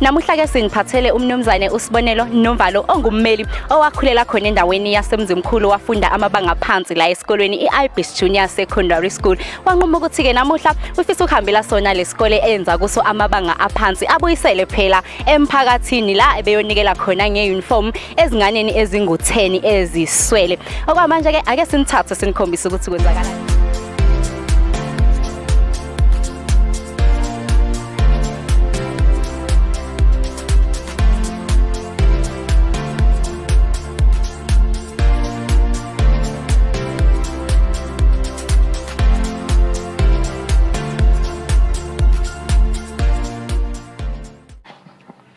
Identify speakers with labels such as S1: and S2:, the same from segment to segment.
S1: Namuhla ke siniphathele umnumzane uSibonelo Nomvalo ongummeli owakhulela khona endaweni yaseMzimkhulu wafunda amabanga phansi la esikolweni iIbis Junior Secondary School. Wanquma ukuthi ke namuhla ufisa ukuhambela sona lesikole enza kuso amabanga aphansi abuyisele phela emphakathini la ebeyonikela khona ngeuniform ezinganeni ezingu10 eziswele. Okwamanje ke ake sinithathe sinikhombise ukuthi kwenzakalani.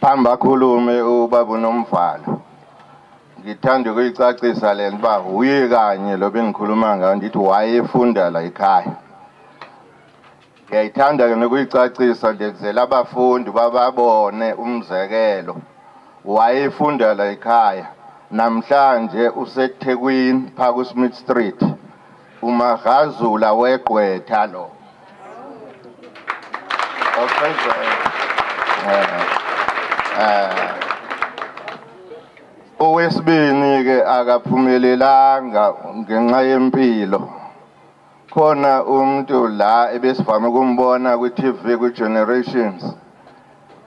S2: phambi akhulume ubaba unomvalo ngithanda ukuyicacisa le nto uba wuye kanye lo bengikhuluma ngayo ndithi wayefunda la ekhaya Ngiyayithanda-ke nokuyicacisa nje kuzela abafundi bababone umzekelo wayefundela ekhaya namhlanje usethekwini phaa kusmith street umagazula wegqwetha lo oqedwe owesibini-ke akaphumelelanga ngenxa yempilo Khona umntu la ebesivame ukumbona kwi-TV kwi-Generations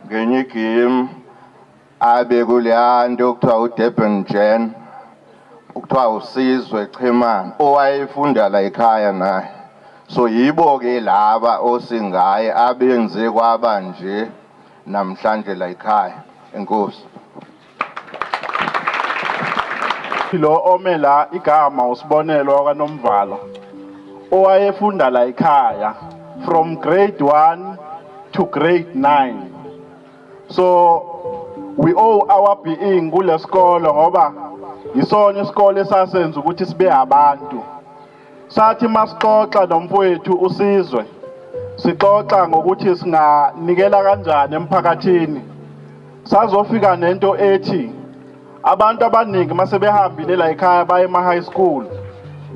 S2: ngenye igimu abe kuleya nto okuthiwa uDurban Gen kuthiwa uSizwe Chimane owayefunda la ekhaya naye so yibo-ke laba osingaye abenze kwaba nje namhlanje la ekhaya. Enkosi.
S3: Lo ome la igama usibonelo wakaNomvalo owayefunda la ekhaya from grade 1 to grade 9 so we owe our being kulesikolo ngoba yisona isikole sasenza ukuthi sibe abantu Sathi masixoxa nomfowethu uSizwe sixoxa ngokuthi singanikela kanjani emphakathini. Sazofika nento ethi abantu abaningi masebehambile la ekhaya baye ema high school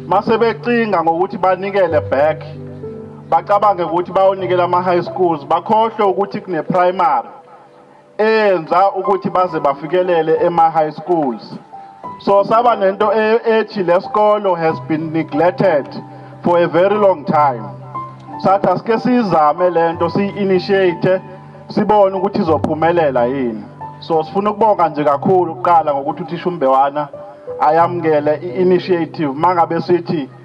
S3: masebecinga ngokuthi banikele back bacabange ukuthi bayonikela ama high schools bakhohlwe ukuthi kune primary eyenza ukuthi baze bafikelele ema-high schools so saba nento e-, ethi le sikolo has been neglected for a very long time sathi asike siyizame le nto siyi-initiate sibone ukuthi izophumelela yini so sifuna ukubonga nje kakhulu kuqala ngokuthi uthisha umbewana ayamukele i-initiative mangabe sithi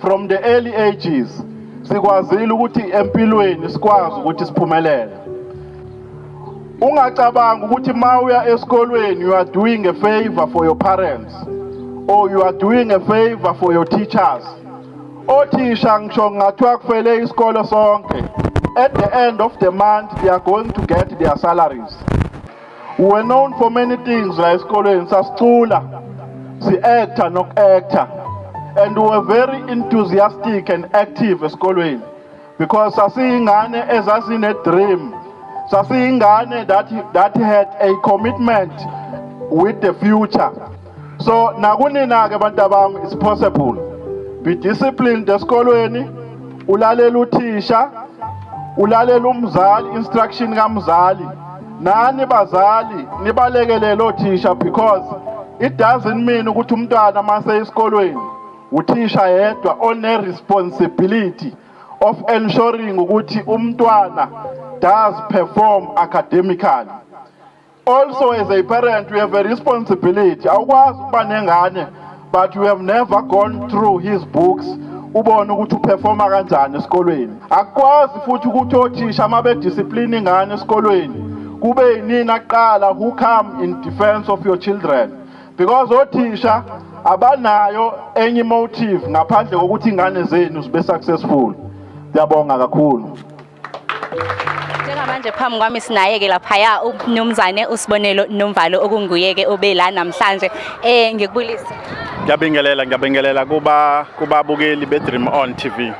S3: From the early ages sikwazile ukuthi empilweni sikwazi ukuthi siphumelele. Ungacabanga ukuthi mawuya esikolweni you are doing a favor for your parents or you are doing a favor for your teachers. Othisha ngisho ngathiwa kufele isikole sonke. At the end of the month they are going to get their salaries. We were known for many things la esikolweni sasicula si-actor noku-actor and we were very enthusiastic and active esikolweni because sasiyingane ezazine-dream sasiyingane that, that had a commitment with the future so nakunina ke bantu abami it's possible be disciplined esikolweni ulalela uthisha ulalela umzali instruction kamzali nani bazali nibalekelele othisha because it doesn't mean ukuthi umntwana mase esikolweni uthisha yedwa one responsibility of ensuring ukuthi umntwana does perform academically Also as a parent we have a responsibility awukwazi ukuba nengane but we have never gone through his books ubone ukuthi uperforma kanjani esikolweni akukwazi futhi ukuthi othisha uma bediscipline ingane esikolweni kube yinini aqala who come in defense of your children because othisha abanayo enye motive ngaphandle kokuthi ingane zenu zibe successful ngiyabonga kakhulu Njengamanje
S1: phambi kwami sinayeke laphaya umnumzane usibonelo nomvalo okunguyeke obe la namhlanje eh ngikubulisa Ngiyabingelela
S4: ngiyabingelela kuba kubabukeli be Dream On TV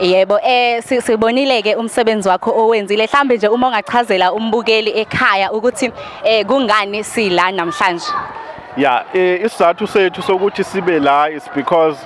S4: Yebo
S1: eh sibonile ke umsebenzi wakho owenzile mhlambe nje uma ungachazela umbukeli ekhaya ukuthi eh kungani sila namhlanje Yeah
S4: eh isizathu sethu sokuthi sibe la is because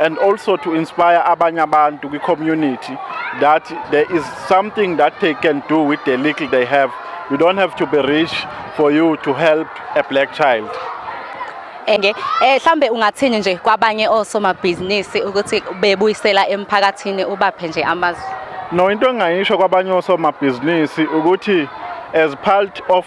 S4: and also to inspire abanye abantu kwi-community that there is something that they can do with the little they have you don't have to be rich for you to help a black child enge eh
S1: hlambe ungathini nje kwabanye osomabhizinisi ukuthi bebuyisela emphakathini ubaphe nje amazwi no into engayisho
S4: kwabanye osomabhizinisi ukuthi as part of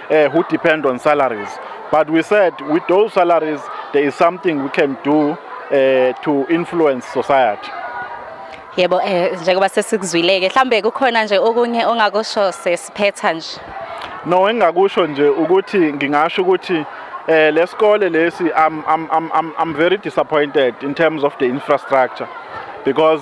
S4: uh, who depend on salaries. But we said with those salaries, there is something we can do uh, to influence society. Yebo
S1: eh njengoba sesikuzwileke mhlambe kukhona nje okunye ongakusho sesiphetha nje. No engakusho
S4: nje ukuthi ngingasho ukuthi eh lesikole lesi I'm I'm I'm I'm very disappointed in terms of the infrastructure because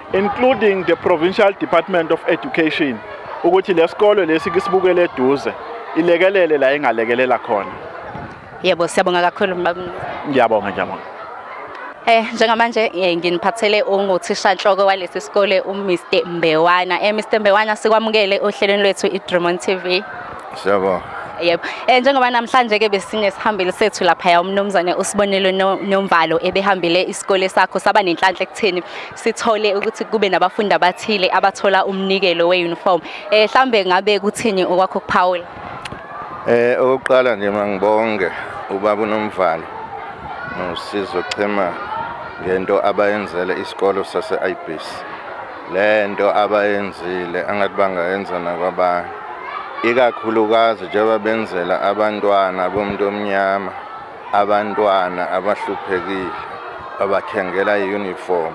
S4: including the Provincial Department of Education ukuthi lesikole lesi kisibukele eduze ilekelele la ingalekelela khona yebo
S1: siyabonga kakhulu ngiyabonga ngiyabonga Eh njengamanje eh, nginiphathele unguthisha nhloko walesi sikole uMr Mbewana. Eh Mr Mbewana sikwamukele ohlelweni lwethu iDrumon TV. Siyabonga.
S2: Yebo. Eh
S1: njengoba namhlanje ke besinesihambeli sethu lapha ya umnumzane usibonelo nomvalo ebehambile isikole sakho saba nenhlanhla ekutheni sithole ukuthi kube nabafundi abathile abathola umnikelo weuniform. Eh mhlambe ngabe kuthini okwakho kuphawula? Eh
S2: okokuqala nje mangibonge ubaba unomvalo nosizo chema ngento abayenzele isikolo sase-IBC. Le nto abayenzile angathi bangayenza nakwabanye, ikakhulukazi njengoba benzela abantwana bomuntu omnyama, abantwana abahluphekile, babathengela i-uniform.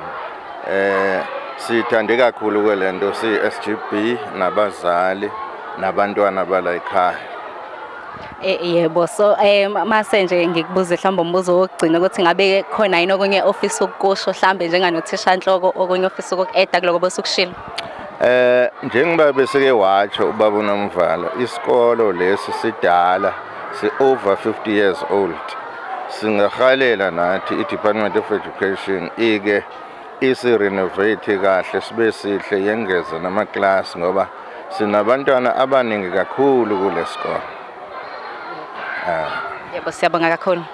S2: Eh, siyithande kakhulu-ke le nto siyi-s g b nabazali nabantwana bala yikhaya
S1: Eh, yebo so eh mase nje ngikubuze mhlawumbe umbuzo wokugcina ukuthi ngabe khona yini okunye ofisa ukukusho mhlawumbe njenganothisha nhloko okunye ofisa ukuku-eda kuloko bosukushilo Eh
S2: njengoba beseke watsho ubaba uNomvala isikolo lesi sidala si over 50 years old singahalela nathi i Department of Education ike isirenovate kahle sibe sihle yengeze namaklasi ngoba sinabantwana abaningi kakhulu kule sikole
S1: um yebo siyabonga kakhulu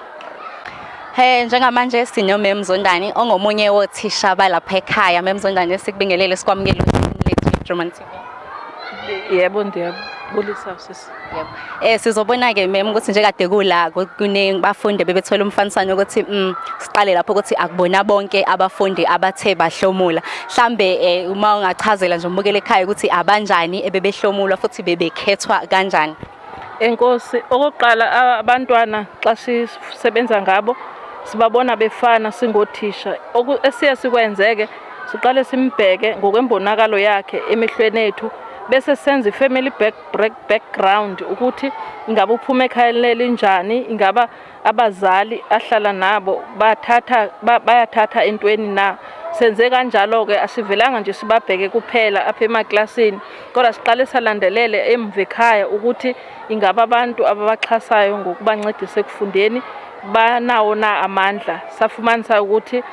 S1: Hey njengamanje sino Mem Zondani ongomunye wothisha balapha ekhaya Mem Zondani sikubingelele sikwamukele lethu German
S5: Yebo ndiyabulisa sisi. Yebo. Eh sizobona
S1: ke mem ukuthi nje kade kula kuningi bafunde bebethola umfaniswano ukuthi mm siqale lapho ukuthi akubona bonke abafundi abathe bahlomula. Mhlambe eh uma ungachazela nje umbukele ekhaya ukuthi abanjani ebebehlomula futhi bebekhethwa kanjani. Enkosi,
S5: okokuqala abantwana xa sisebenza ngabo sibabona befana singothisha. Esiye sikwenzeke siqale simbheke ngokwembonakalo yakhe emehlweni ethu bese senza i-family back, back, background ukuthi ingabe uphuma ekhayeni lelinjani ingaba Abazali ahlala nabo bathatha bayathatha entweni na senze kanjalo-ke asivelanga nje sibabheke kuphela apha emaklasini kodwa siqale salandelele emva ekhaya ukuthi ingabe abantu ababaxhasayo ngokubancedisa ekufundeni banawo na amandla safumanisa ukuthi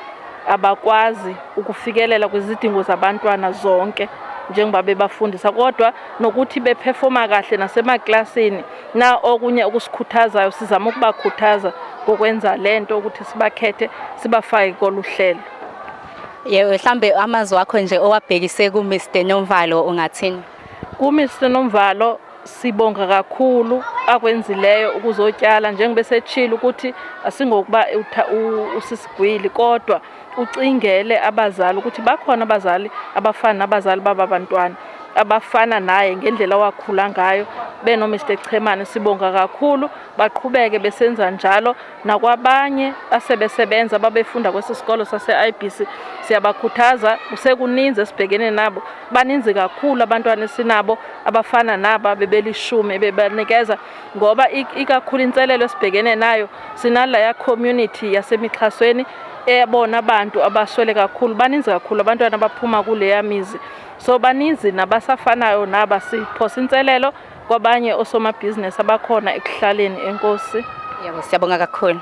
S5: abakwazi ukufikelela kwizidingo zabantwana zonke njengoba bebafundisa kodwa nokuthi bephefoma kahle nasemaklasini Na okunye okusikhuthazayo sizama ukubakhuthaza ngokwenza le nto ukuthi sibakhethe sibafake kolu hlelo.
S1: Yebo, mhlambe amazwi wakho nje owabhekise kuMr Nomvalo ungathini? KuMr
S5: Nomvalo sibonga kakhulu akwenzileyo ukuzotyala njengoba esechile ukuthi asingokuba usisigwili kodwa ucingele abazali ukuthi bakhona abazali abafana nabazali baba bantwana abafana naye ngendlela wakhula ngayo beno Mr Chemane sibonga kakhulu baqhubeke besenza njalo nakwabanye asebesebenza babefunda kwesisikolo sase IBC siyabakhuthaza kusekuninzi esibhekene nabo baninzi kakhulu abantwana esinabo abafana naba bebelishumi bebanikeza ngoba ikakhulu inselelo esibhekene nayo sinalaya community yasemixhasweni ebona abantu abaswele kakhulu baninzi kakhulu abantwana abaphuma kuleya mizi so baninzi nabasafanayo naba siphosa inselelo kwabanye osomabhizinisi abakhona ekuhlaleni enkosi yebo siyabonga
S1: kakhulu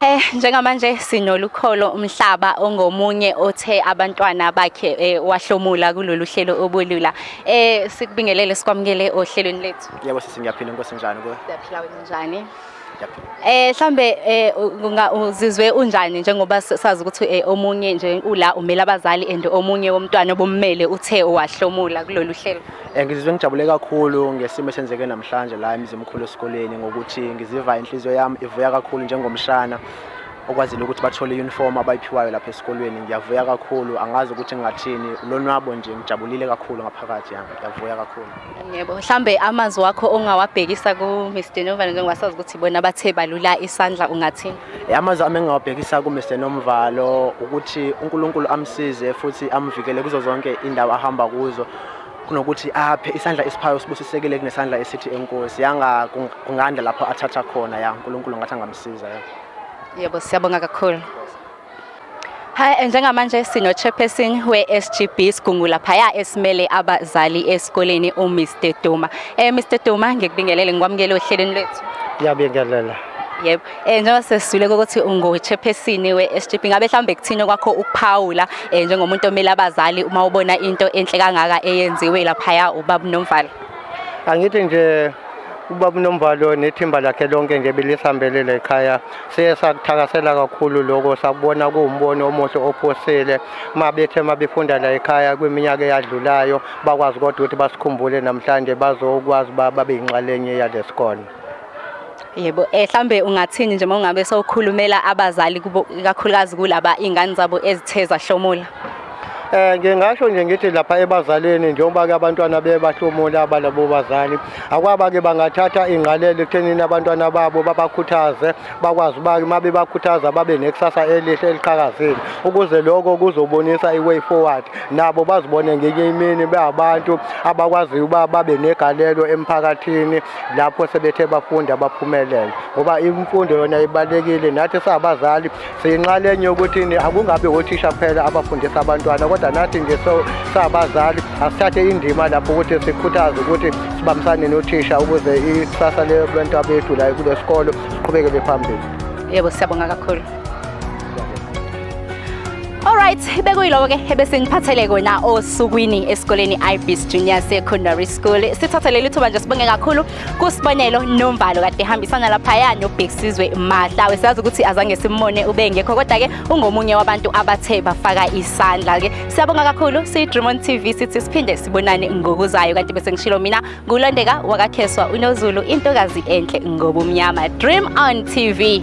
S1: Eh njengamanje sinolukholo umhlaba ongomunye othe abantwana bakhe eh, wahlomula kulolu hlelo obulula eh sikubingelele sikwamukele ohlelweni lethu Nkosi. Yebo sisi ngiyaphila Nkosi
S6: njani kuwe? Ngiyaphila wena njani?
S1: Ngiyaphila. Eh mhlambe eh unga- uzizwe unjani njengoba s- sazi ukuthi eh, omunye nje ula umela abazali and omunye womntwana obummele uthe wahlomula kulolu hlelo. Eh, ngizizwe ngijabule
S6: kakhulu ngesimo esenzeke namhlanje la emzimkhulu esikoleni ngokuthi ngiziva inhliziyo yami ivuya kakhulu njengomshana okwazile ukuthi bathole i-uniform abayiphiwayo lapha esikolweni ngiyavuya kakhulu angazi ukuthi ngingathini lonwabo nje ngijabulile kakhulu ngaphakathi yami ngiyavuya kakhulu Yebo, mhlambe
S1: amanzi wakho ongawabhekisa ku Mr Nomvana njengoba sazi ukuthi bona bathe balula isandla ungathini? Eh, Amazwi ami
S6: engingawabhekisa ku Mr Nomvalo ukuthi uNkulunkulu amsize futhi amvikele kuzo zonke indawo ahamba kuzo kunokuthi aphe isandla esiphayo sibusisekile kunesandla esithi enkosi yanga kung- kunganda lapho athatha khona ya uNkulunkulu ngathi angamsiza ya Yebo, siyabonga
S1: kakhulu. Hi, eh, njengamanje sino chairperson we-SGB Sigungu laphaya esimele abazali esikoleni uMr Duma. Eh Mr Duma ngikubingelele ngikwamukele ohlelweni lwethu. Ngiyabingelela.
S7: Yebo.
S1: Eh njengoba sesizule ukuthi ungochairperson we-SGB ngabe mhlawumbe kuthini kwakho ukuphawula eh njengomuntu omele abazali uma ubona into enhle kangaka eyenziwe laphaya ubaba Nomvalo. Angithi
S7: nje ubaba Nomvalo nethimba lakhe lonke nje belisambelele ekhaya siye sakuthakasela kakhulu lokho sakubona kuwumbono omuhle ophusile uma bethe uma befunda la ekhaya kwiminyaka eyadlulayo bakwazi kodwa ukuthi basikhumbule namhlanje bazokwazi uba babe yinxalenye yale sikole
S1: yebo um mhlawumbe ungathini nje uma ungabe sowukhulumela abazali ikakhulukazi kulaba iy'ngane zabo ezithe zahlomula Eh
S7: ngingasho nje ngithi lapha ebazaleni njengoba ke abantwana bebahlomula abalabo bazali akwaba ke bangathatha ingqalelo ekuthenini abantwana babo babakhuthaze bakwazi uba uma bebakhuthaza babe nekusasa elihle eliqhakazile ukuze lokho kuzobonisa i-way forward nabo bazibone ngenye imini beabantu abakwaziyo uba babe negalelo emphakathini lapho sebethe bafunda baphumelele ngoba imfundo yona ibalekile nathi sabazali siyinxalenye yokuthini akungabi othisha kuphela abafundisa abantwana kodwa nathi nje sabazali asithathe indima lapho ukuthi sikhuthaze ukuthi sibambisane nothisha ukuze ikusasa lebantwa bethu la kule sikolo siqhubekele phambili yebo siyabonga
S1: kakhulu Alright, bekuyiloko ke ebese ngiphathele kona osukwini esikoleni iBeast Junior Secondary School. Sithathe leli thuba nje sibonge kakhulu kusibonelo nomvalo kade ehambisana laphaya nobig sizwe mahlawe siyazi ukuthi azange simmone ubengekho kodwa-ke ungomunye wabantu abathe bafaka isandla-ke siyabonga kakhulu siyi-dremon tv sithi siphinde sibonane ngokuzayo kanti bese ngishilo mina ngulondeka wakakheswa unozulu intokazi enhle ngobumnyama dream on tv